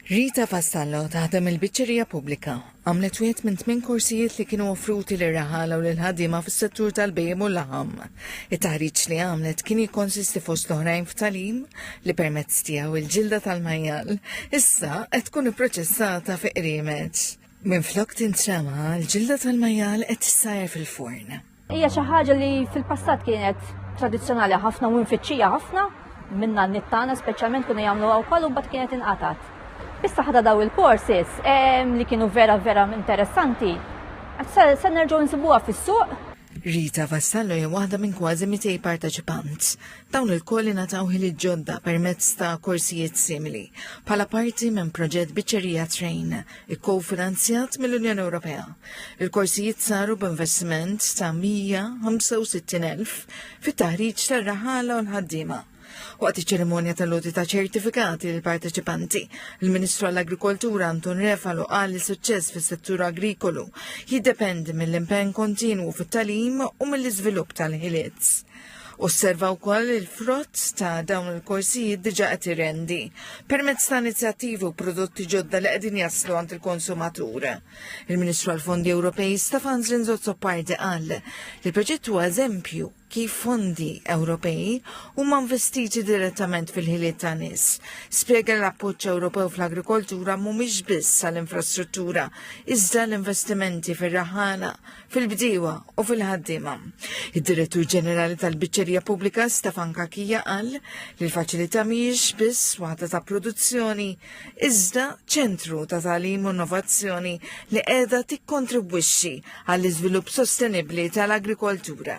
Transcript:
Rita Vassallo taħdem il-Biċċerija Pubblika. Għamlet wieħed minn tmien korsijiet li kienu offruti lir raħala u lil ħaddiema fis-settur tal-bejjem u l-laħam. It-taħriġ li għamlet kien jikkonsisti fost l-oħrajn f'talim li permezz tiegħu il-ġilda tal-majjal issa qed tkun ipproċessata fi qriemeġ. Minflok tintrema, l-ġilda tal-majjal qed tissajr fil-forn. Hija xi ħaġa li fil-passat kienet tradizzjonali ħafna u nfittxija ħafna minna nittana speċjalment kuna jagħmlu wkoll u mbagħad kienet inqatat. Issa ħadha daw il-courses li kienu vera vera interessanti. Se nerġgħu nsibuha fis-suq. Rita Vassallo hija waħda minn kważi 200 parteċipant. Dawn il-kolli nataw ħili ġodda permezz ta' korsijiet simili, bħala parti minn proġett biċċerija train ikkofinanzjat mill-Unjoni Ewropea. Il-korsijiet saru b'investiment ta' 165,000 fit-taħriġ tar-raħala u l-ħaddiema. Waqt iċ-ċerimonja tal-loti ta' ċertifikati l parteċipanti il-Ministru għall-Agrikoltura Anton Refalo qal li suċċess fis-settur agrikolu jiddependi mill-impenn kontinwu fit-talim u mill-iżvilupp tal-ħiliet. Osserva wkoll li l-frott ta' dawn il-korsijiet diġà qed irendi permezz ta' inizjattivi u prodotti ġodda li qegħdin jaslu għand il-konsumatur. Il-Ministru għall-Fondi Ewropej Stefan Zrinzozzopardi qal li l-proġett huwa eżempju kif fondi Ewropej huma investiti direttament fil-ħiliet ta' nies. Spjega l-appoġġ Ewropew fl-agrikoltura mhumiex biss għall-infrastruttura, iżda l-investimenti fir-raħana, fil-bdiewa u fil-ħaddiema. Id-Direttur Ġenerali tal-Biċċerija Pubblika Stefan Kakija qal li l-faċilità mhijiex biss waħda ta' produzzjoni iżda ċentru ta' tagħlim u innovazzjoni li qiegħda tikkontribwixxi għall-iżvilupp sostenibbli tal-agrikoltura.